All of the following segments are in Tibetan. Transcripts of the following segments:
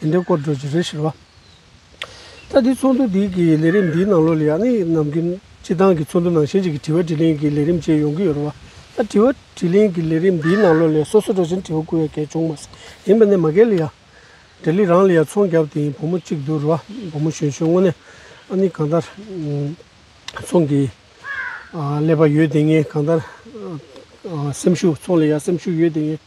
དེ་འདྲའི་སྐོར་བརྗོད་ཀྱི་རེད་ཟེར་བ། ད་ལྟའི་ཚོགས་འདུ་དེ་གའི་ལས་རིམ་འདིའི་ནང་ལོ་ལེགས་ནི་ནམ་རྒྱུན་སྤྱི་བཏང་གི་ཚོགས་འདུ་ནང་གཞན་གཅིག་གིས་དྲི་བ་དྲིས་ལན་གྱི་ལས་རིམ་བཅས་ཡོང་གི་ཡོད་རེད་བ། ད་དྲི་བ་དྲིས་ལན་གྱི་ལས་རིམ་འདིའི་ནང་ལོ་ལེགས་སོ་སོ་འགྲོ་བཞིན་དྲི་བ་བསྐུར་བའི་གལ་བྱུང་མ་ཟད་ཡིན་པ་ནས་མ་རྒན་ལི་ཡ། འབྲས་ལི་རང་ལི་ཡ་ཚོང་རྒྱབ་དེའི་བུ་མོ་གཅིག་འདུག་རེད་བ། བུ་མོ་གཞོན་ཤོས་དངོས་གནས་ཨ་ནི་གང་ལྟར་ཚོང་གི་ཀླད་པ་ཡོད་དེ་ངས་གང་ལྟར་སེམས་ཤུགས་ཚོང་ལི་ཡ་སེམས་ཤུགས་ཡོད་དེ་ངས།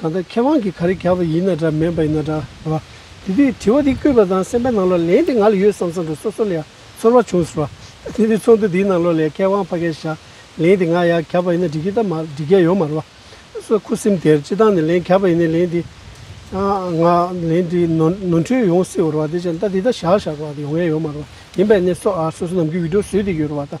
གང་ལྟར་མཁས་དབང་གིས་ག་རེ་བརྒྱབ་པ་ཡིན་ན་འདྲ་མིན་པ་ཡིན་ན་འདྲ་བ། དེ་དུས་དྲི་བ་འདི་བཀོད་པ་དང་སེམས་པའི་ནང་ལོགས་ལན་དེ་ང་ལ་ཡོད་བསམ་བསམ་དུ་སོ་སོ་ལ་ཡང་ཚོར་བ་བྱུང་ཟེར་བ། དེ་དུས་ཚོགས་འདུ་འདིའི་ནང་ལོགས་ལས་མཁས་དབང་ཕ་སྐད་ཞག་ལན་དེ་ང་ཡང་བརྒྱབ་པ་ཡིན་ན་འགྲིག་གི་ད་མ་འགྲིག་མཁན་ཡོད་མ་རེད་བ། སོ་ཁུ་སིམ་དེར་སྤྱི་བཏང་ནས་ལན་བརྒྱབ་པ་ཡིན་ན་ལན་དེ་ང་ལན་དེ་ནོར་འཁྲུལ་ཡོང་སྲིད་བར་བ་དེ་ཅང་ད་དེ་ད་ཞག་ཞག་བར་ཡོང་མཁན་ཡོད་མ་རེད་བ། ཡིན་པས་ནས་སོ་སོ་ནམ་གྱི་འུད་སྒྲོག་བཟོས་དེ་ཡོད་རེད་བ་ད།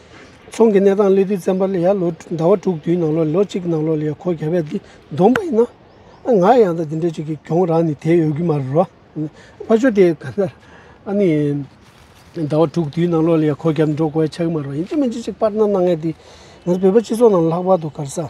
ཚོང་གི་གནས་སྟངས་སླེ་དུས་བཙན་པ་ལ་ཡར་ལོ་ཟླ་བ་དྲུག་དུས་ནང་ལོ་ལོ་གཅིག་ནང་ལོ་ལ་ཡར་འཁོར་ག་བས་འདི་བསྡོམས་པ་ཡིན་ན། ང་ཡང་ད་དེ་འདྲ་ཅིག་གི་གྱོང་རང་ནི་དེ་ཡོད་གི་མ་རེད་རོ། ཕ་ཆོས་དེ་ག་ལ་ཨ་ནི། ཟླ་བ་དྲུག་དུས་ནང་ལོ་ལ་ཡར་འཁོར་ག་འགྲོ་དགོས་ཡ་ཆགས་གི་མ་རེད་རོ་ཡིན་གཅིག་མིན་གཅིག་ཅིག་པར་ན་གནང་ངེས་དེ། ང་ཚོ་བོད་པ་སྤྱི་ཚོགས་ནང་ལྷག་པར་དུ་གར་ས།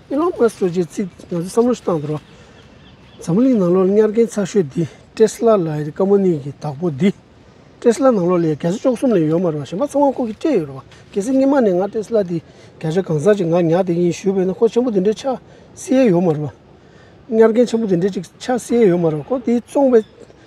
ཨེ་ལོན་མཱ་སུ་རྗེས་ཚིག་ང་ཚོས་བསམ་བློ་ཞིག་བཏང་དོར། འཛམ་བུ་གླིང་ནང་ལོག་གཉའ་རྒན་ཚགས་ཤོས་འདི་ཏྲེ་སི་ལ་ལ་ཡི་ཀ་མོ་ནི་གི་བདག་པོ་འདི། ཏྲེ་སི་ལ་ནང་ལོག་ལས་ག་ཚོད་ཅོག་གསུམ་ལས་ཡོད་མ་རེད་པ་གཞན་པ་ཚང་མ་ཁོ་གིས་སྤྲད་ཡོད་རེད་པ་གལ་སྲིད་སྔེ་མ་ནས་ང་ཏྲེ་སི་ལ་འདི་བརྒྱ་ཆ་གང་ཟག་ཅིག་ང་ཉག་དེ་ཡིན་ཞུས་པས་ན་ཁོ་ཆེན་པོ་འདི་འདྲའི་ཆ་སྲི་ཡས་ཡོད་མ་རེད་པ། གཉའ་རྒན་ཆེན་པོ་འདི་འདྲའི་ཅིག་ཆ་སྲི་ཡས་ཡོད་མ་རེད་པ་ཁོ་འདི་བཙོང་པའི།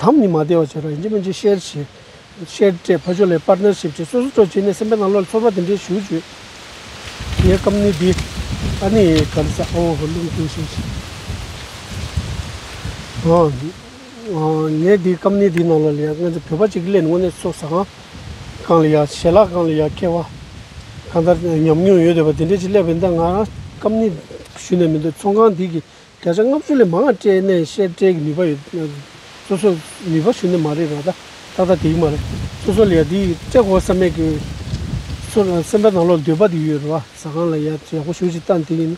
དམ་ཉི་མ་བདེ་བར་གྱུར་པ་ཡིན་གྱི་མིན་གྱི་ཤེར་ཕྱིན། ཤེར་བཀྲའི་ཕ་ཆོས་ལས Partnership ཅེས་སོ་སོ་སྤྲོ་བྱས་ནས་སེམས་པའི་ནང་ལོག་ལ་ཚོར་བ་འདི་འདྲའི་ཞུ་བཅུད། དེའི་སྐབས་ནི་འདི། ཨ་ནི་གང་ཟག་ཨོ་ཧོ་རླུང་ཁྱུང་ཤེར་ཕྱིན། ངས་འདིའི་སྐབས་ནི་འདིའི་ནང་ལོག་ལ་ཡང་སྔོན་ཚེ་བོད་པ་ཅིག་གི་ལས་ནི་དངོས་གནས་ཚོགས་ཟ་ཁང་གང་ལ་ཡང་ཞལ་ལག་གང་ལ་ཡང་ཁེལ་བ་གང་ལྟར་ཉམས་མྱོང་ཡོད་འདོད་པ་འདི་འདྲས་ཅིག་སླེབས་པའི་འདི་ང་རང་སྐབས་ནི་ཞུ་ནས་མི་འདུག་ཚོང་ཁང་འདི་གི་བརྒྱ་ཆ་ལྔ་བཅུ་ལས་མང་བ་སྤྲད་ནས་བཤད་སྤྲད་ཀྱི་ནུས་པ་ཡོད། སོ་སོ་ནུས་པ་ཟུར་ནས་མ་རེག་པ་ད་ལྟ་དང་དེའི་མ་རེག་སོ་སོ་ལ་ཡག་འདི་སྤྲད་དགོས་བསམ་མེད་ཀྱི། སོ་ལ་སེམས་པ་ནང་ལོག་འདོད་པ་དེ་ཡོད་རེད་བ་ཟ་ཁང་ལ་ཡག་ཡག་པོ་ཞུ་ཞིག་ལྟ་འདི་ཡིན།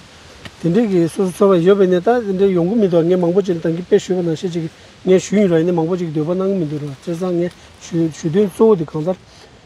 དེ་འདྲའི་གི་སོ་སོ་ཚོར་བ་ཡོད་པས་ནས་ད་དེ་འདྲའི་ཡོང་གི་མི་འདུག་ངས་མང་པོ་ཅིག་ལ་དང་གི་དཔེ་ཞུས་པ་ན་ཤེས་ཅིག་ངས་ཞུས་ཡིན་ར་ཡིན་ནས་མང་པོ་ཅིག་གི་འདོད་པ་གནང་གི་མི་འདུག་ར་བརྩེ་བཟང་ངས་ཞུས་ཞུ་དོན་གཙོ་བོ་དེ་གང་ལྟར་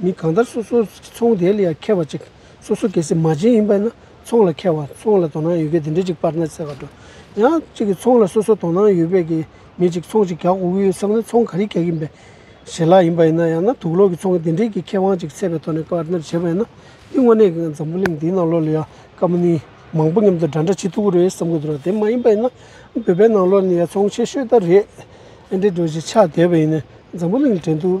མི་གང་ལྟར་སོ་སོ་ཚོང་དེ་ལ་ཡང་ཁེལ་བ་ཅིག་སོ་སོ་གེ་སེ་མ་ཅན་ཡིན་པས་ན་ཚོང་ལ་ཁེལ་བ་ཚོང་ལ་དོ་སྣང་ཡོད་མཁན་དེ་འདྲ་ཅིག་པར་ན་ཚད་པར་འགྲོ། ཡང་གཅིག་གིས་ཚོང་ལ་སོ་སོ་དོ་སྣང་ཡོད་པས་ཀྱི་མི་ཅིག་ཚོང་ཅིག་རྒྱག་དགོས་ཀྱི་ཡོད་བསམ་ན་ཚོང་ག་རེ་རྒྱག་གིན་པའི་བྱེད་ལག་ཡིན་པ་ཡིན་ན་ཡང་ན་དུག་ལོག་གི་ཚོང་གི་དེ་འདྲའི་ཀྱི་ཁེ་དབང་ཅིག་ཚད་པའི་ཐོག་ནས་པར་ནར་བྱེད་པ་ཡིན་ན་འདི་དངོས་གནས་ཀྱི་འཛམ་བུ་གླིང་འདིའི་ནང་ལོགས་ལ་ཡང་ཀ་མ་ནི་མང་པོ་མཉམ་དུ་འདྲ་འདྲ་བྱེད་ཐུབ་ཀྱི་རེད་བསམ་གྱི་འདུག་ར་དེ་མ་ཡིན་པ་ཡིན་ན་བོད་པའི་ནང་ལོགས་ནས་ཡང་ཚོང་ཆེ་ཤོས་ལྟར་རེད། ཨེ་འདྲའི་འགྲོ་བཞིན་ཆགས་བསྡད་པ་ཡིན་ནས་འཛམ་བུ་གླིང་འགྲན་སྡུར་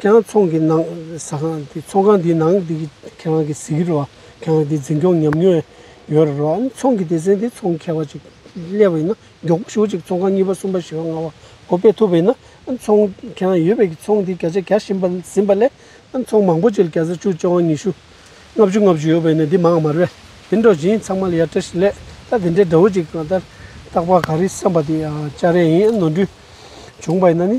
ཀྱང་ཚོང་གི་ནང་ཟ་ཁང་དེ་ཚོང་ཁང་དེའི་ནང་དེ་གི་ཁྱེད་རང་གི་གཟིགས་ཀྱི་རེད་བ། ཁྱེད་རང་དེ་འཛིན་སྐྱོང་ཉམས་མྱོང་ཡོད་རེད་བ། ཨ་ནི་ཚོང་གི་དེ་ཟེར་དེ་ཚོང་མཁས་བ་ཅིག་སླེབས་བ་ཡིན་ན་མགྱོགས་པོ་ཞུགས་ཅིག་ཚོང་ཁང་གཉིས་པ་གསུམ་པ་བཞི་བ་ལྔ་བ་གོ་སྤེལ་ཐུབ་པ་ཡིན་ན་ཨ་ནི་ཚོང་ཁྱེད་རང་ཡོད་པའི་གི་ཚོང་དེ་བརྒྱ་ཆ་བརྒྱ་བཞིན་པ་ཟིན་པ་ལས་ཨ་ནི་ཚོང་མང་པོ་ཅིག་ལ་བརྒྱ་ཆ་བཅུ་བཅོ་ལྔ་ཉི་ཤུ་ལྔ་བཅུ་ལྔ་བཅུ་ཡོད་པ་ཡིན་ན་དེ་མང་མར་བས་དེ་འདྲ་བཞིན་ཚང་མ་ལ་ཡར་བཀྲ་ཤིས་ལེགས་ད་དེ་འདྲའི་དགྲ་བོ་ཅིག་གང་ལྟར་བཏགས་པ་ག་རེ་བསམ་པ་དེ་ཨ་ཅག་རེད་ཡིན་ཨ་ནི་ནོར་འཁྲུལ་བྱུང་བ་ཡིན་ན་ནི།